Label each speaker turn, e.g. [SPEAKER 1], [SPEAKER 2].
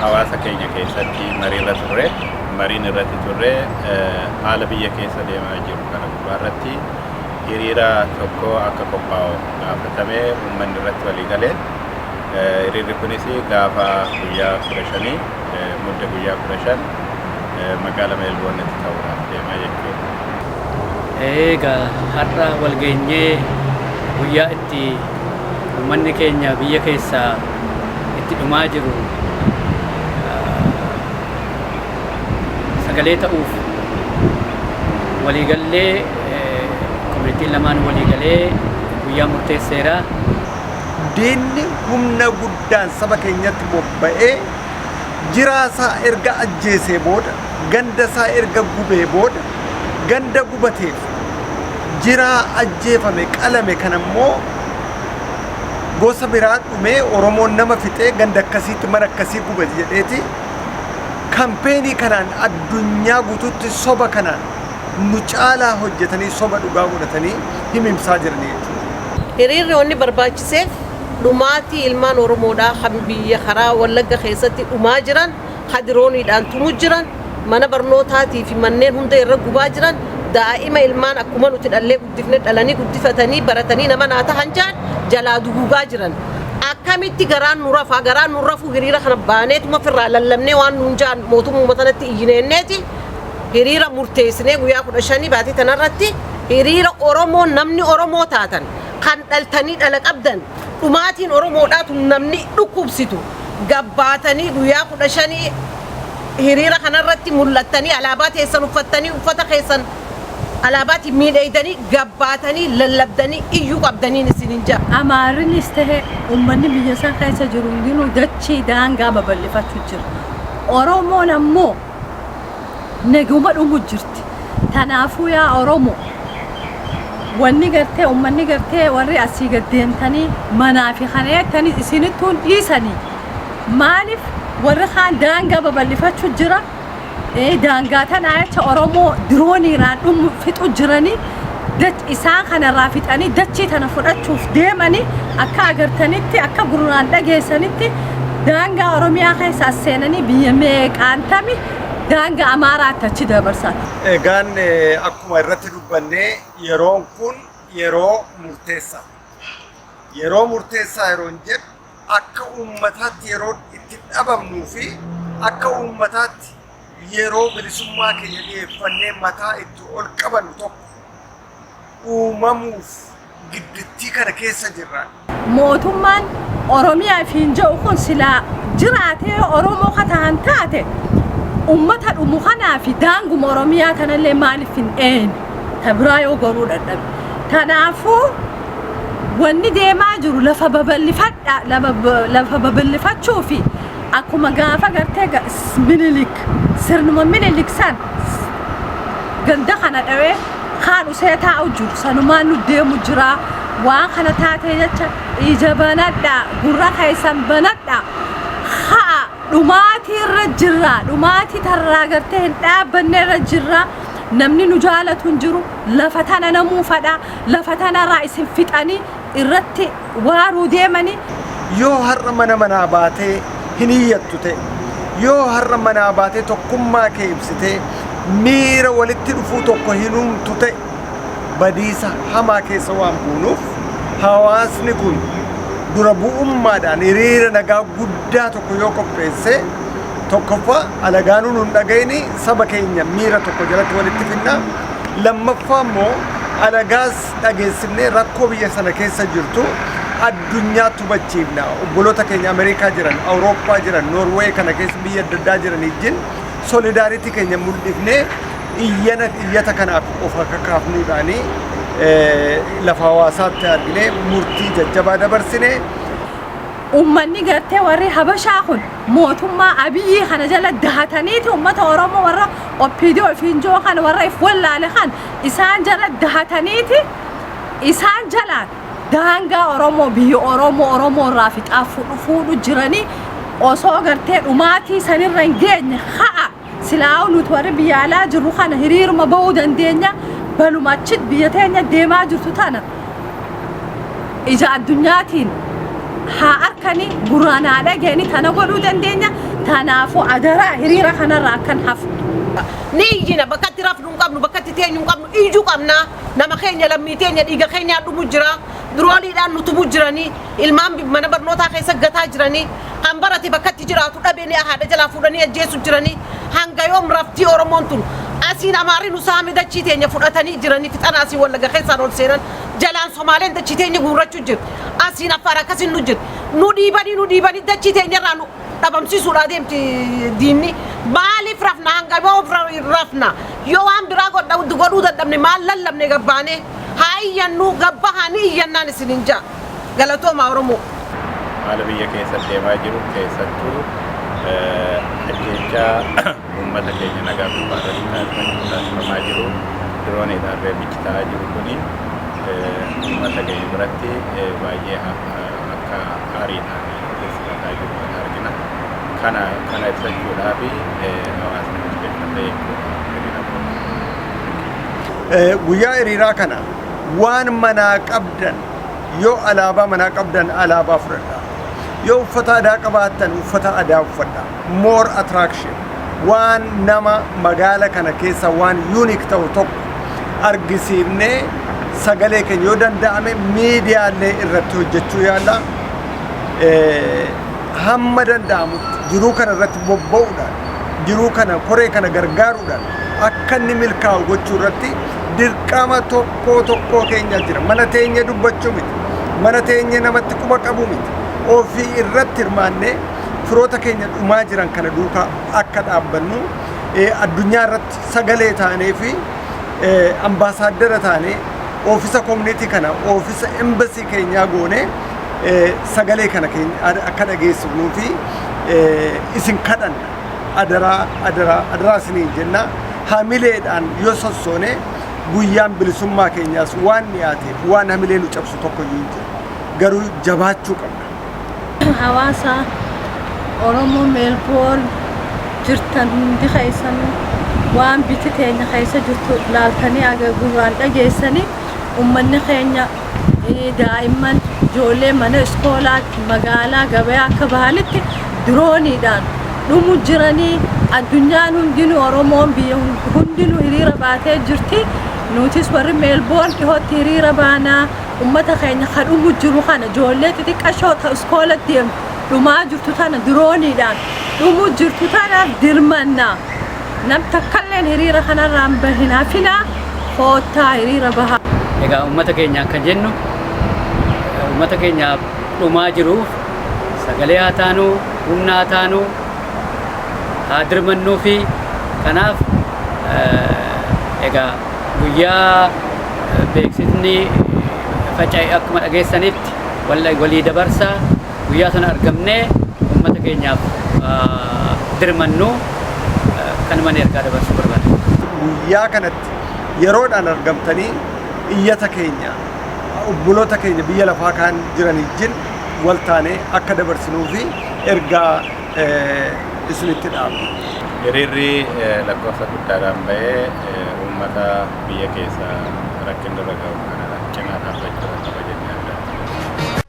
[SPEAKER 1] hawaasa keenya keessatti marii irra turre mariin irratti turre haala biyya keessa deemaa jiru kana gubbaa irratti hiriira tokko akka qophaa'u gaafatame uummanni irratti walii gale hiriirri kunis gaafa guyyaa kudha shanii mudda guyyaa kudha shan magaala meelboonnitti ta'uudhaaf deemaa jechuudha.
[SPEAKER 2] Egaa har'a walgeenyee guyyaa itti ummanni keenya biyya keessaa itti dhumaa jiru sagalee ta'uuf waliigallee komunitiin lamaan waliigalee guyyaa murteesseera.
[SPEAKER 3] Diinni humna guddaan saba keenyatti bobba'ee jiraa isaa erga ajjeesee booda ganda isaa erga gubee booda ganda gubateef keessatti jiraa ajjeefame qalame kan ammoo gosa biraa dhumee oromoon nama fixee ganda akkasiitti mana akkasii gube jedheeti kampeenii kanaan addunyaa guutuutti soba kanaan nu caalaa hojjetanii soba dhugaa godhatanii himimsaa jiranii jechuudha. Hiriirri wanni
[SPEAKER 4] barbaachiseef dhumaatii ilmaan Oromoodhaa kan biyya karaa Wallagga keessatti dhumaa jiran ha dirooniidhaan tumu jiran, mana barnootaatii fi manneen hunda irra gubaa jiran, daa'ima ilmaan akkuma nuti dhallee guddifne dhalanii guddifatanii baratanii nama naa tahan jahan jalaa duguugaa jiran. Akkamitti garaan nu rafa? Garaan nun rafuu hiriira kana baaneetuma firraa lallabnee waan nuun jahan mootummuma tanatti iyyine jenneeti hiriira murteessinee guyyaa 15 baatii tana irratti hiriira Oromoon namni Oromoo taatan kan dhaltanii dhala qabdan dhumaatiin Oromoodhaa tun namni dhukkubsitu gabbaatanii guyyaa 15 hiriira kana irratti mul'attanii alaabaa teessan uffattanii uffata keessan alaabaatiin miidheeydanii gabbaatanii lallabdanii iyyuu qabdaniin isinin jaa. Amaarinis ta'e
[SPEAKER 5] ummanni biyya san keessa jiru hundinuu dachii daangaa babal'ifachuu jira. Oromoon ammoo neguma dhumu jirti tanaafuu yaa oromo wanni gartee ummanni gartee warri asii gad deemtanii manaa fi kana jettanii isinittuun dhiisanii maaliif warri kaan daangaa babal'ifachuu jira Eh, daangaa tanaa jecha oromoo dirooniiraan dhumu fixu jiranii dach- isaan kanarraa fixanii dachii tana fudhachuuf deemanii akka agartanitti akka gurraan dhageessanitti daangaa oromiyaa keessa as seenanii biyya meeqaan tami daangaa amaaraatti achi dabarsan Egaan eh,
[SPEAKER 3] akkuma irratti dubbanne yeroon kun yeroo murteessaa. Yeroo murteessaa yeroon jedhu akka uummataatti yeroo itti dhabamnuu fi akka uummataatti yeroo bilisummaa keenya dhiyeeffannee mataa itti ol qabannu tokko uumamuuf giddittii kana keessa jirra. Mootummaan
[SPEAKER 5] Oromiyaa ifiin jedhu kun silaa jiraatee Oromoo ka tahan taate uummata dhumu kanaa fi daanguma Oromiyaa tanallee maaliif hin eeyne ta biraa yoo goruu dadhabe. Kanaafuu wanni deemaa jiru lafa babal'ifadha lama- ba- lafa babal'ifachuu fi akkuma gaafa gartee ga- s- minilik sirnuma minilik san s- ganda kana dhawee kaan usee taa'u jiru sanumaan nu deemu jira waan kana taatee jecha ija banadha gurra keessan banadha ha'a dhumaatii irra jirra dhumaatii tarraa gartee hin dhaabbanne irra jirra namni nu jaalatu hin jiru lafa tana namuu fadha Lafa tanaraa isin fixanii irratti waaruu deemanii. Yoo har'a
[SPEAKER 3] mana manaa baatee hin iyyattu ta'e, yoo har'a manaa baatee tokkummaa kee ibsitee miira walitti dhufuu tokko hin uumtu ta'e badiisa hamaa keessa waan buunuuf hawaasni kun dura bu'ummaadhaan hiriira nagaa guddaa tokko yoo qopheessee tokkoffaa alagaanuu nun dhaga'inii saba keenya miira tokko jalatti walitti finnaa Lammaffaa immoo alagaas dhageessifnee rakkoo biyya sana keessa jirtu addunyaatti hubachiifna. Obboloota keenya Ameerikaa jiran, Awurooppaa jiran, Noorweey kana keessa biyya adda addaa jiran ijjin solidaaritii keenya mul'ifnee iyyana iyyata kanaaf of akka kaafnuudhaanii eh, lafa hawaasaatti arginee murtii jajjabaa dabarsine.
[SPEAKER 5] Uummanni gartee warri Habashaa kun mootummaa Abiyii kana jala dahataniiti ummata Oromoo warra Oppiidiyoo ifiin joo kana warra if wallaale kan isaan jala dahataniiti isaan jalaan daangaa Oromoo biyya Oromoo Oromoo irraa fixaa fudhu fuudhu jiranii osoo gartee dhumaatii sanirra hin geenye ha'a Silaa'uu nuti warri biyya alaa jirru kana hiriiruma ba'uu dandeenya baluma achi biyya teenya deemaa jirtu tana ija addunyaatiin haa arkani guraan haa dhageenyi tana godhuu dandeenya tanaafuu adaraa hiriira kanarraa akkan hafu. Ni
[SPEAKER 4] iyyina bakka itti rafnu hin qabnu bakka itti teenyu hin qabnu iyyu qabna nama keenya lammii teenya dhiiga keenyaa dhumu jira Dirooniidhaan nu tumuu jiranii, ilmaan mana barnootaa keessa gataa jiranii, kan barate bakka itti jiraatu dhabe ni haadha jalaa fuudhanii ajjeesu jiranii, hanga yoom raftii Oromoon tun? Asiin Amaarri nu saame dachii teenya fudhatanii jiranii fixan asiin Wallagga keessaan ol seenan, jalaan Somaaleen dachii teenya guurrachuu jirti, asiin Affaar akkasiin nu jirti. Nu dhiibanii nu dhiibanii dachii teenya irraa nu dhabamsiisuudhaa deemti diinni. Maaliif rafna hanga yoom rafna? Yoo waan biraa godhuu dadhabne maal lallabne gad baanee? Haa iyyannuu gad bahaa ni iyyannaan isiniin ja'a. Galatoomaa Oromoo. haala biyya
[SPEAKER 1] keessa deemaa jiru keessattuu ajjeechaa uummata keenya nagaa gubbaa irratti taasifamaa jiru dirooniidhaan reebichi ta'aa jiru kuni uummata keenya biratti baay'ee akka aariidhaan ofii fudhataa jiru kan argina. Kana kana ibsachuudhaaf hawaasni murteeffatee eeguudha.
[SPEAKER 3] Eh, Guyyaa hiriiraa kana waan manaa qabdan yoo alaabaa manaa qabdan alaabaa fudhadha. Yoo uffata aadaa qabaattan uffata aadaa uffadha. More attraction. Waan nama magaala kana keessa waan unique ta'u tokko argisiifnee sagalee keenya yoo danda'ame miidiyaalee irratti hojjechuu yaalla. Eh, Hamma danda'amutti jiruu kana irratti bobba'uudhaan jiruu kana koree kana gargaaruudhaan akka inni milkaa'u gochuu irratti dirqama tokkoo tokkoo keenya jira mana teenya dubbachuu miti mana teenya namatti quba qabu miti ofii irratti hirmaannee firoota keenya dhumaa jiran kana duukaa akka dhaabbannu addunyaa irratti sagalee taanee fi ambaasaaddara taanee oofisa koominiitii kana oofisa embasii keenyaa goonee sagalee kana keenya akka dhageessifnuu fi isin kadhanna adaraa adaraa adaraa isiniin jenna hamileedhaan yoo sossoone guyyaan bilisummaa keenyaas waan dhiyaateef waan hamilee nu cabsu tokko hin jiru garuu jabaachuu qabna. hawaasa
[SPEAKER 5] Oromoo Meelboorn jirtan hundi keessan waan biyyi teenya keessa jirtu laaltanii gurraan dhageessanii ummanni keenya daa'imman ijoollee mana iskoolaa magaalaa gabayaa akka bahanitti dirooniidhaan dhumu jiranii addunyaan hundinuu oromoon biyya hundinuu hiriira baatee jirti nutis warri meelboon dhihootti hiriira baanaa ummata keenya ka dhumu jiru kana ijoollee xixiqqashoo ta iskoola deemtu dhumaa jirtu tana dirooniidhaan dhumu jirtu tanaaf dirmannaa Nam takkalleen hiriira kanarraa hin bahin hafinaa koottaa hiriira bahaa. Egaa uummata keenyaan
[SPEAKER 2] kan jennu uummata keenya dhumaa jiruuf sagalee haa taanu, humna haa taanu, haa dirmannuufi. Kanaaf egaa guyyaa beeksifni faca'e akkuma dhageessanitti walii dabarsaa. Guyyaa sana argamnee uummata keenyaaf dirmannu kanumaan ergaa dabarsuu barbaada. Guyyaa kanatti
[SPEAKER 3] yeroodhaan argamtanii iyyata keenya obboloota keenya biyya lafaa kaan jiran wajjin wal taanee akka dabarsinuu fi ergaa isinitti dhaamna. Hiriirri
[SPEAKER 1] lakkoofsa guddaadhaan ba'ee uummata biyya keessa rakkinni irra ga'u kana cinaa dhaabbachuudhaan qaba jennee abdanna.